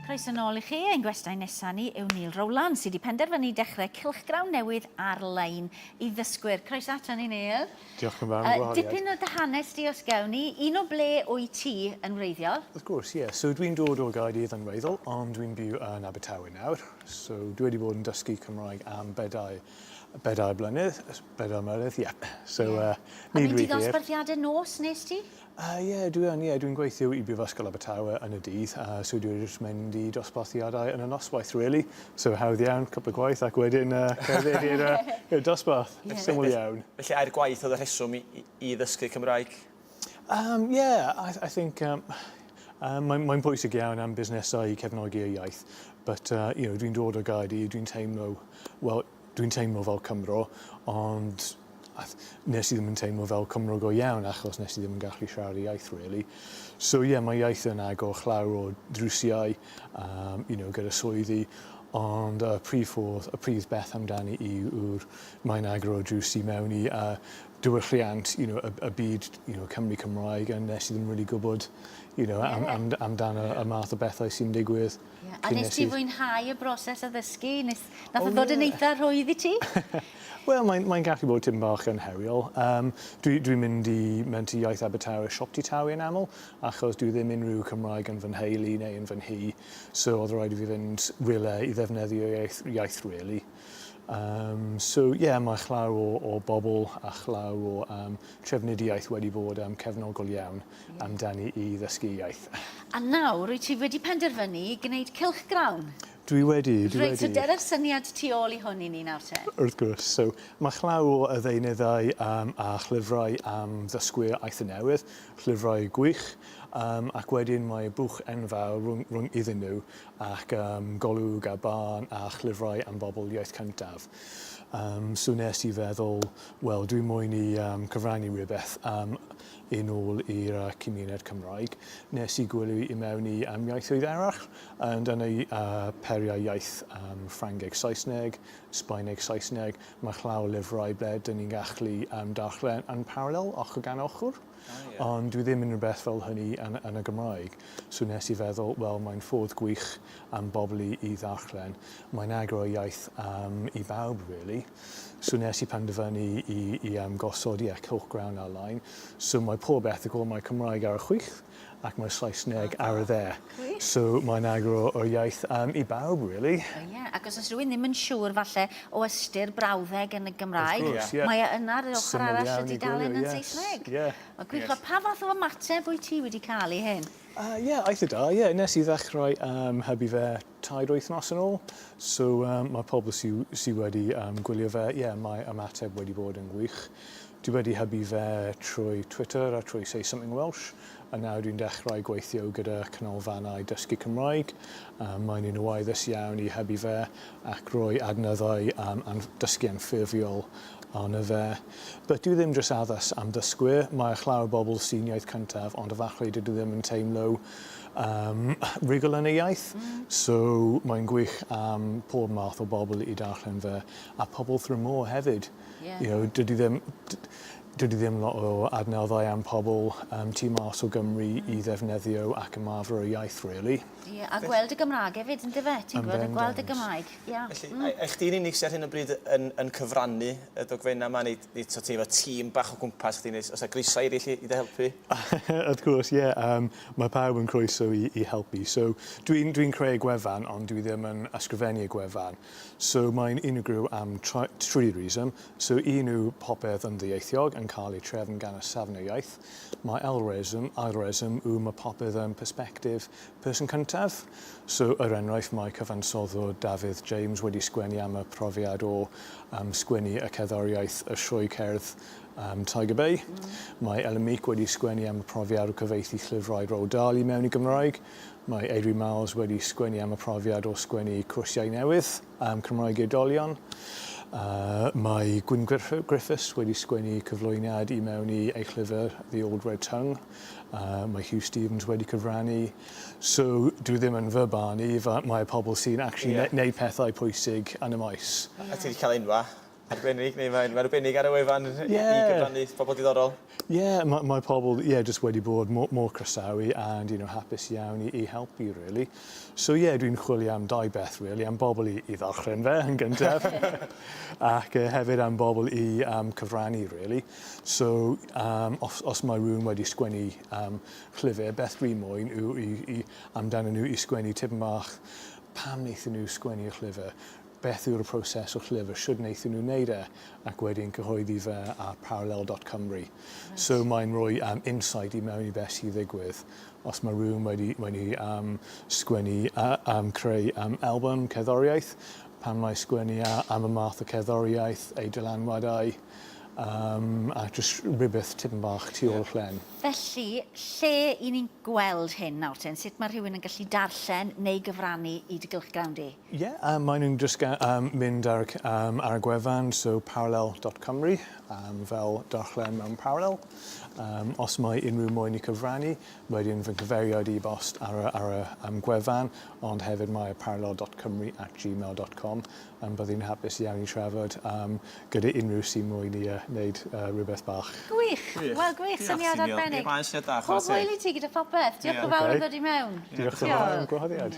Croeso nôl i chi. Ein gwestai nesaf ni yw Neil Rowland, sydd wedi penderfynu dechrau cylchgrawn newydd ar-lein i ddysgwyr. Croeso ato ni, Neil. Diolch yn fawr am y gwahoddiad. Dipyn o dy hanes di os gewn ni. Un o ble wyt ti yn wreiddiol? Wrth gwrs, ie. So dwi'n dod o Gaerdydd yn wreiddiol, ond dwi'n byw yn Abertawe nawr. So dwi wedi bod yn dysgu Cymraeg am bedair Bedair blynedd, bedair mlynedd, ie. Yeah. So, yeah. Uh, nid wedi hir. A dosbarthiadau nos nes ti? Uh, yeah, dwi yn, yeah. Dwi'n gweithio i Brifysgol Abertawe yn y dydd, a uh, so dwi'n just mynd i dosbarthiadau yn y noswaith, really. So, hawdd iawn, cwpl o gwaith, ac wedyn uh, cerdded i'r uh, dosbarth. Yeah. Syml iawn. Felly, air gwaith oedd y rheswm i, i, i ddysgu Cymraeg? Um, yeah, I, I think um, uh, mae'n mae bwysig iawn am busnesau i cefnogi y iaith, but uh, you know, dwi'n dod o Gaerdydd, dwi'n teimlo, well, dwi'n teimlo fel Cymro, ond nes i ddim yn teimlo fel Cymro go iawn achos nes i ddim yn gallu siarad y iaith, really. So, yeah, mae iaith yn agor chlawr o drwsiau, um, you know, gyda swyddi, ond y prif ffordd, y prif beth amdani i yw'r mae'n agor o drws i mewn i uh, diwylliant you know, y, y byd you know, Cymru Cymraeg a nes i ddim really gwybod you know, am, am, amdano y math o bethau sy'n digwydd. Yeah. A nes ti fwynhau y broses o ddysgu? Nes, nath oh, ddod yeah. yn eitha rhwydd i ti? Wel, mae'n mae gallu bod tyn bach yn heriol. Um, Dwi'n dwi, dwi mynd i mynd i iaith Abertawe siop ti tawi yn aml, achos dwi ddim unrhyw Cymraeg yn fy nheulu neu yn fy nhi. So oedd rhaid i fi fynd rhywle i ddefnyddio iaith, iaith really. Um, so, ie, yeah, mae llaw o, o bobl a llaw o um, trefnidiaeth wedi bod um, cefnogol iawn mm. amdani i ddysgu iaith. A nawr, wyt ti wedi penderfynu i gwneud cilch grawn? Dwi wedi, dwi Reit, wedi. Reit, so dyna'r syniad tu ôl i hwn i ni nawr te. Wrth gwrs, so mae llaw o y ddeunyddau um, a llyfrau am ddysgwyr aeth y newydd, llyfrau gwych, um, ac wedyn mae bwch enfawr rhwng, rhwng iddyn nhw, ac ym Golwg a Barn a Llyfrau am Bobl Iaith Cyntaf. Yym, so nes i feddwl, wel, dwi moyn i um, cyfrannu rhywbeth um, yn ôl i'r uh, cymuned Cymraeg. Nes i gwylio i mewn i um, iaithoedd arall, um, dan ei uh, periau iaith um, Ffrangeg Saesneg, Sbaeneg Saesneg, mae llaw lyfrau ble dyn ni'n gallu um, darllen yn parallel ochr gan ochr. Ond dwi ddim yn rhywbeth fel hynny yn, yn y Gymraeg. So nes i feddwl, wel, mae'n ffordd gwych am bobl i, i ddarllen. Mae'n agor y iaith um, i bawb, really. So nes i penderfynu i, i um, gosod, ie, yeah, cylchgrawn ar-lein. So mae pob erthygl, mae Cymraeg ar y chwith, ac mae Saesneg ar y dde. So mae'n agor yr iaith yym i bawb rili. O ie, ac os o's rywun ddim yn siŵr falle o ystyr brawddeg yn y Gymraeg... Wrth gwrs, ie. ...mae e yna ar yr ochor arall... Syml iawn i gwylio, ie. ...y dudalen yn Saesneg. Ie. Wel gwych. Wel pa fath o ymateb wyt ti wedi ca'l i hyn? Yy ie, eitha da, ie. Nes i ddechrau yym hybu fe tair wythnos yn ôl. So um, mae pobl sydd sy wedi um, gwylio fe, ie, yeah, mae ymateb wedi bod yn gwych. Dwi wedi hybu fe trwy Twitter a trwy Say Something Welsh, a nawr dwi'n dechrau gweithio gyda canolfannau dysgu Cymraeg. Um, mae'n un o waeddus iawn i hybu fe ac roi adnoddau am um, dysgu anffurfiol arno fe. But dwi ddim jyst addas am ddysgwyr, mae chlawr bobl sy'n iaith cyntaf ond y farchlyd dydw ddim yn teimlo um, rhugl yn ei iaith. Mm. So mae'n gwych am pob math o bobl i darllen fe, a pobl through more hefyd. Yeah. You know, dydy ddim... Dydy ddim lot o adnoddau am pobl um, tu mas o Gymru mm. i ddefnyddio ac ymarfer y iaith, really. Yeah, a gweld y Gymraeg hefyd, yn dyfe? Ti'n gweld, gweld y Gymraeg. Ie. Felly a a chdi'n unig sy ar hyn o bryd yn yn cyfrannu y dogfenna' 'ma neu neu t'o' ti efo tîm bach o gwmpas chdi neu os 'na groeso i eryll i i dy helpu? Wrth gwrs ie yym mae pawb yn croeso i i helpu so dwi'n dwi'n creu y gwefan ond dwi ddim yn ysgrifennu y gwefan so mae'n unigryw am try- tri reason so un yw popeth yn ddieithiog yn cael ei trefn gan y safon y iaith mae ail reswm ail reswm yw ma' popeth yn persbectif Person cyntaf. So, er enghraifft, mae cyfansoddwr Dafydd James wedi sgwennu am y profiad o um, sgwennu y cerddoriaeth Y Sioe Cerdd um, Tiger Bay. Mm. Mae Ellen Meek wedi sgwennu am y profiad o gyfeithi llyfrau Roald Dahl i mewn i Gymraeg. Mae Eirri Miles wedi sgwennu am y profiad o sgwennu cwrsiau newydd am Cymraeg i oedolion. Uh, mae Gwyn Griffiths wedi sgwennu cyflwyniad i mewn i ei llyfr The Old Red Tongue. Uh, mae Huw Stephens wedi cyfrannu. So, dwi ddim yn fy barn i, mae pobl sy'n actually yeah. neud pethau pwysig yn y maes. A ti wedi cael enwa arbennig, neu mae'n ma arbennig ar y wefan yeah. i gyfrannu pobl diddorol? Ie, yeah, mae, mae pobl yeah, just wedi bod mor, mor croesawu and you know, hapus iawn i, i helpu, really. So ie, yeah, dwi'n chwilio am dau beth, really, am bobl i, i ddarllen fe yn gyntaf, ac uh, hefyd am bobl i um, cyfrannu, really. So um, os, os mae rhywun wedi sgwennu um, llyfr, beth dwi moyn yw i, i, amdano nhw i sgwennu tipyn bach pam wnaethon nhw sgwennu y llyfr, beth yw'r proses o'r llyfr, sydd wnaethon nhw wneud e, ac wedyn cyhoeddi fe ar parallel.cymru. Right. So mae'n rhoi um, insight i mewn i beth sy'n ddigwydd. Os mae rhywun wedi, wedi um, sgwennu, uh, um, creu um, album cerddoriaeth, pan mae sgwennu am y math o cerddoriaeth, ei dylanwadau, Um, a jyst rhywbeth tipyn bach tu ôl llen. Felly, lle i ni'n gweld hyn nawr ten? Sut mae rhywun yn gallu darllen neu gyfrannu i dy gylchgrawn di? Ie, yeah, um, maen nhw'n just um, mynd ar, um, ar y gwefan, so parallel.cymru, um, fel darllen mewn parallel. Um, os mae unrhyw moyn i cyfrannu, wedyn fy cyfeiriad i bost ar, ar y um, gwefan, ond hefyd mae parallel.cymru at gmail.com. Ond bydd hi'n hapus iawn i trafod gyda unrhyw sy'n moyn i wneud rhywbeth bach. Gwych! Wel gwych, syniad arbennig. Pob hwyl i ti gyda phopeth. Diolch yn fawr am ddod i mewn. Diolch yn fawr am y gwahoddiad.